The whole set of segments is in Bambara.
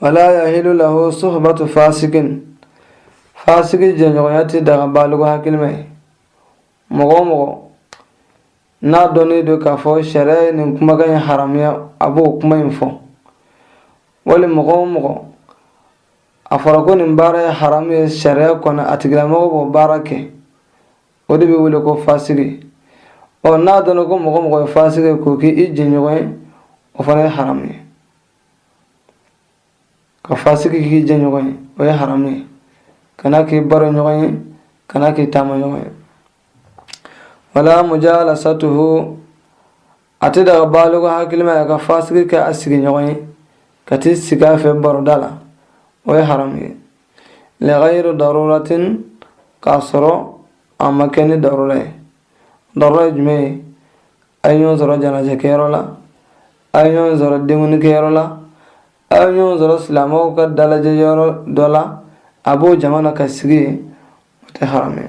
walaa yahilu lahu suhbatu faasikin faasiki jɛɲɔgɔnya tɛ daga baaliku hakilima ye mɔgɔ o mɔgɔ n'a dɔnnen don k'a fɔ sariya ye nin kumakan in haramuya a b'o kuma in fɔ wali mɔgɔ o mɔgɔ a fɔra ko nin baara ye haramu ye sariya kɔnɔ a tigilamɔgɔ b'o baara kɛ o de bɛ wele ko faasiki o n'a dɔnna ko mɔgɔ mɔgɔ ye faasiki ye k'o kɛ i jɛɲɔgɔn ye o fana ye haramu ye ka faasiki k'i jɛɲɔgɔn ye o ye haramu ye kan'a k'i baroɲɔgɔn ye kan'a k'i taamaɲɔgɔn ye wala mujalasatuhu a tɛ daga baaliku hakilima ye ka faasiki kɛ a sigiɲɔgɔn ye ka t'i sigi a fɛ baroda la o ye haramu ye ligayiri daruratin k'a sɔrɔ a ma kɛ ni darura ye darura ye jumɛn ye a ye ɲɔgɔn sɔrɔ janajakɛyɔrɔ la a ye ɲɔgɔn sɔrɔ denkundikɛyɔrɔ la a ye ɲɔgɔn sɔrɔ silamɛw ka dalajɛyɔrɔ dɔ la a b'o jama na ka sigi yen o tɛ haramu ye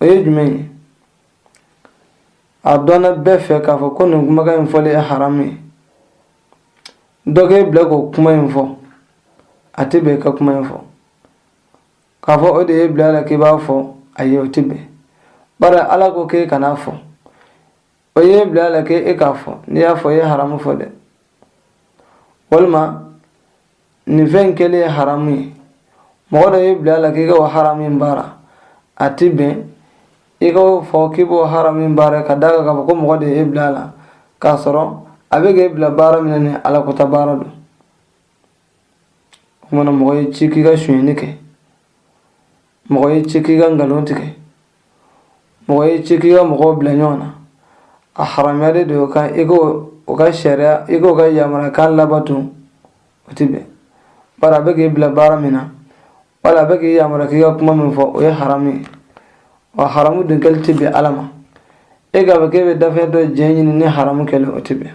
o ye jumɛn ye a dɔnna bɛɛ fɛ k'a fɔ ko nin kumakan in fɔlen ye haramu ye dɔ k'e bila k'o kuma in fɔ a tɛ bɛn ka kuma in fɔ k'a fɔ o de y'e bila a la k'i b'a fɔ a ye o tɛ bɛn bari ala ko k'e kan'a fɔ o y'e bila a la k'e e k'a fɔ n'i y'a fɔ i ye haramu fɔ dɛ walima nin fɛn in kɛlen ye haramu ye mɔgɔ dɔ y'i bila a la k'i ka o haramu in baara a ti bɛn i ka o fɔ k'i b'o haramu in baara ka d'a kan k'a fɔ ko mɔgɔ de ye e bila a la k'a sɔrɔ a bɛ k'e bila baara min na ni alakota baara don o kuma na mɔgɔ y'i ci k'i ka sonyɛni kɛ mɔgɔ y'i ci k'i ka nkalon tigɛ mɔgɔ y'i ci k'i ka mɔgɔw bila ɲɔgɔn na a haramuyalen don o kan i ko o ka sariya i k'o ka yamaruya kan labato o tɛ bɛn bari a bɛ k'i bila baara min na wala a bɛ k'i yamaruya k'i ka kuma min fɔ o ye haramu ye wa haramu dun kɛli tɛ bɛn ala ma e ka bɛ k'e bɛ dafɛn dɔ jɛn ɲini ni haramu kɛlen o tɛ bɛn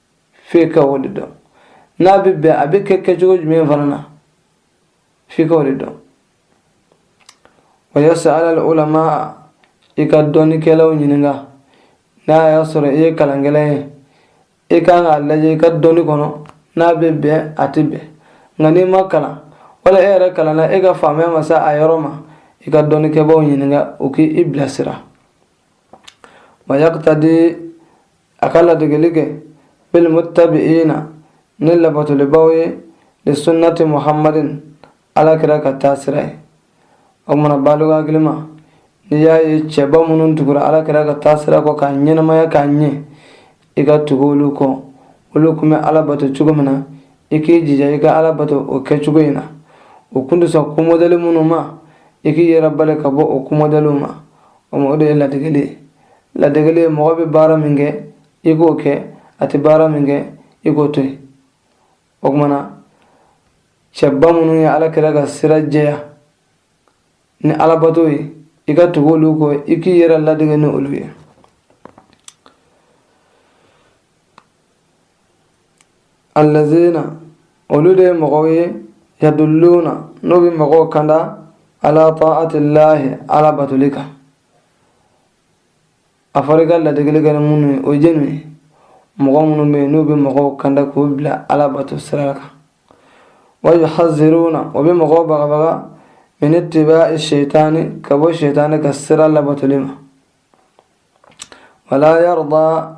f'e ka o de dɔn n'a bɛ bɛn a bɛ kɛ kɛcogo jumɛn fana na f'i ka o de dɔn wa yasalu ulama i ka dɔnnikɛlaw ɲininka n'a y'a sɔrɔ i ye kalankɛla ye i kan k'a lajɛ i ka dɔnni kɔnɔ n'a bɛ bɛn a tɛ bɛn nka n'i ma kalan wala e yɛrɛ kalanna e ka faamuya ma se a yɔrɔ ma i ka dɔnnikɛbaaw ɲininka u k'i bilasira wa yakutadi a ka ladegeli kɛ bilmuttabi'ina ni labatolibaw ye li sunnati muhammadin alakira ka taa sira ye o tuma na baaligu hakilima n'i y'a ye cɛba minnu tugura alakira ka taa sira kɔ k'a ɲɛnamaya k'a ɲɛ i ka tugu olu kɔ olu tun bɛ ala bato cogo min na i k'i jija i ka ala bato o kɛcogo in na o tun tɛ sɔn ko modɛli minnu ma i k'i yɛrɛ bali ka bɔ o ko modɛliw ma o ma o de ye ladegeli ye ladegeli ye mɔgɔ bɛ baara min kɛ i k'o kɛ a tɛ baara min kɛ i k'o to yen o tuma na cɛba minnu ye alakira ka sira jɛya ni alabato ye i ka tugu olu kɔ i k'i yɛrɛ ladege ni olu ye allazina olu de ye mɔgɔw ye yadulluna n'o bɛ mɔgɔw kanda ala taatillahi ala batoli kan a fɔra i ka ladegeli kɛ ni minnu ye o ye jɛnu ye mɔgɔ minnu bɛ yen n'u bɛ mɔgɔw kanda k'u bila ala bato sira kan wa yuhaziruna o bɛ mɔgɔw bagabaga min itiba'i seyitaani ka bɔ seyitaani ka sira labatoli ma wala yarda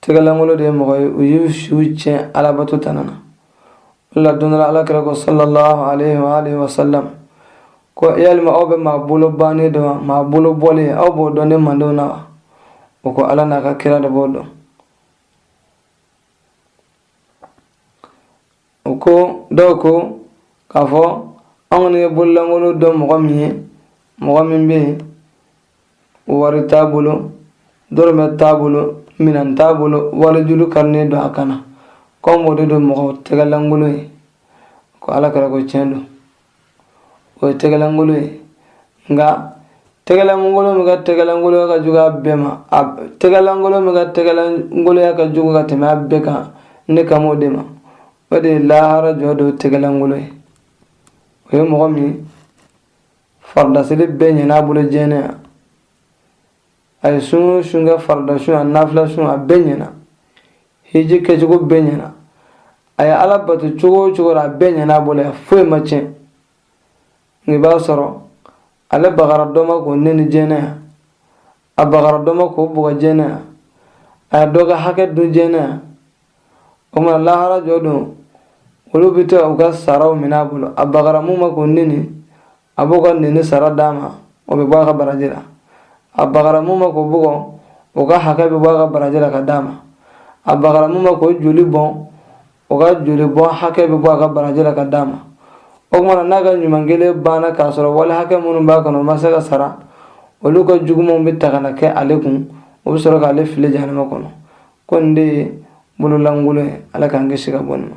tɛgɛlankolon de ye mɔgɔ ye u y'u siw tiɲɛ alabato tana na o la don dɔ la alakira ko sallallahu alaihi wa alihi wa sallam ko yalima aw bɛ maa bolo bannen dɔn wa maa bolo bɔlen aw b'o dɔn ne mantɔnw na wa o ko ala n'a ka kira de b'o dɔn o ko dɔw ko k'a fɔ an kɔni ye bololankolon dɔn mɔgɔ min ye mɔgɔ min bɛ yen wari t'a bolo dɔrɔmɛ t'a bolo minɛn t'a bolo warijuru karinen don a kan na k'anw b'o de dɔn mɔgɔ tɛgɛlankolon ye ko alakira ko tiɲɛ don o ye tɛgɛlankolon ye nka tɛgɛlankolon min ka tɛgɛlankolonya ka jugu a bɛɛ ma a tɛgɛlankolon min ka tɛgɛlankolonya ka jugu ka tɛmɛ a bɛɛ kan ne kan o de ma o de ye lahara jɔ don tɛgɛlankolon ye o ye mɔgɔ min farida seli bɛɛ ɲɛna a bolo diɲɛ a ye sun sun kɛ farida sun a nafila sun a bɛɛ ɲɛna hiji kɛcogo bɛɛ ɲɛna a ye ala bato cogo o cogo la a bɛɛ ɲɛna a bolo a foyi ma tiɲɛ nka i b'a sɔrɔ ale bagara dɔ ma k'o nɛni diɲɛ yan a bagara dɔ ma k'o bugɔ diɲɛ yan a ye dɔ ka hakɛ dun diɲɛ yan o tuma na lahara jɔ don olu bɛ to u ka saraw minɛ a bolo a bagara min ma k'o nɛni a b'o ka nɛni sara d'a ma o bɛ bɔ a ka baraji la a bagara mun ma k'o bugɔ o ka hakɛ bɛ bɔ a ka baraji la ka d'a ma a bagara mun ma k'o joli bɔn o ka joli bɔn hakɛ bɛ bɔ a ka baraji la ka d'a ma o tuma na n'a ka ɲuman kɛlen banna k'a sɔrɔ wali hakɛ minnu b'a kun o ma se ka sara olu ka jugumanw bɛ ta ka na kɛ ale kun o bɛ sɔrɔ k'ale fili jahanama kɔnɔ ko nin de ye bololankolon ye ala k'an kisi ka bɔ nin ma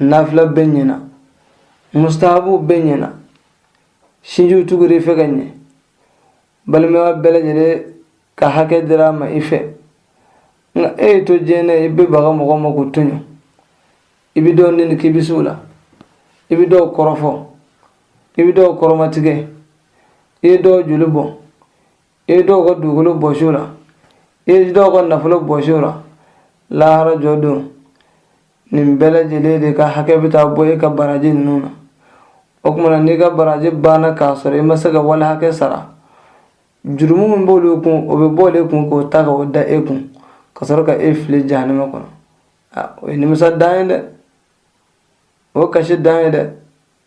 nafila bɛɛ ɲɛna mustahabu bɛɛ ɲɛna sinji tugur'i fɛ ka ɲɛ balimaya bɛɛ lajɛlen ka hakɛ dira a ma i fɛ nka e y'i to diɲɛ na i bɛ baga mɔgɔ ma k'o tɔɲɔ i bɛ dɔw nɛni k'i bɛ se o la i bɛ dɔw kɔrɔfɔ i bɛ dɔw kɔrɔmatigɛ i ye dɔw joli bɔn i ye dɔw ka dugukolo bɔsi o la i ye dɔw ka nafolo bɔsi o la lahara jɔ don nin bɛɛ lajɛlen de ka hakɛ bɛ taa bɔ e ka baraji ninnu na o tuma na n'i ka baraji banna k'a sɔrɔ i ma se ka wali hakɛ sara jurumu min b'olu kun o bɛ bɔ olu kun k'o ta k'o da e kun ka sɔrɔ ka e fili jahanama kɔnɔ o ye nimisa dan ye dɛ o kasi dan ye dɛ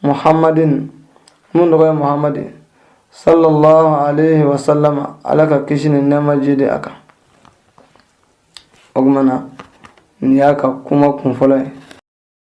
muhammadin mun tɔgɔ ye muhammadin sallallahu alaihi wa sallama ala ka kisi ni nɛɛma jiidi a kan o tuma na nin y'a ka kuma kunfɔlɔ ye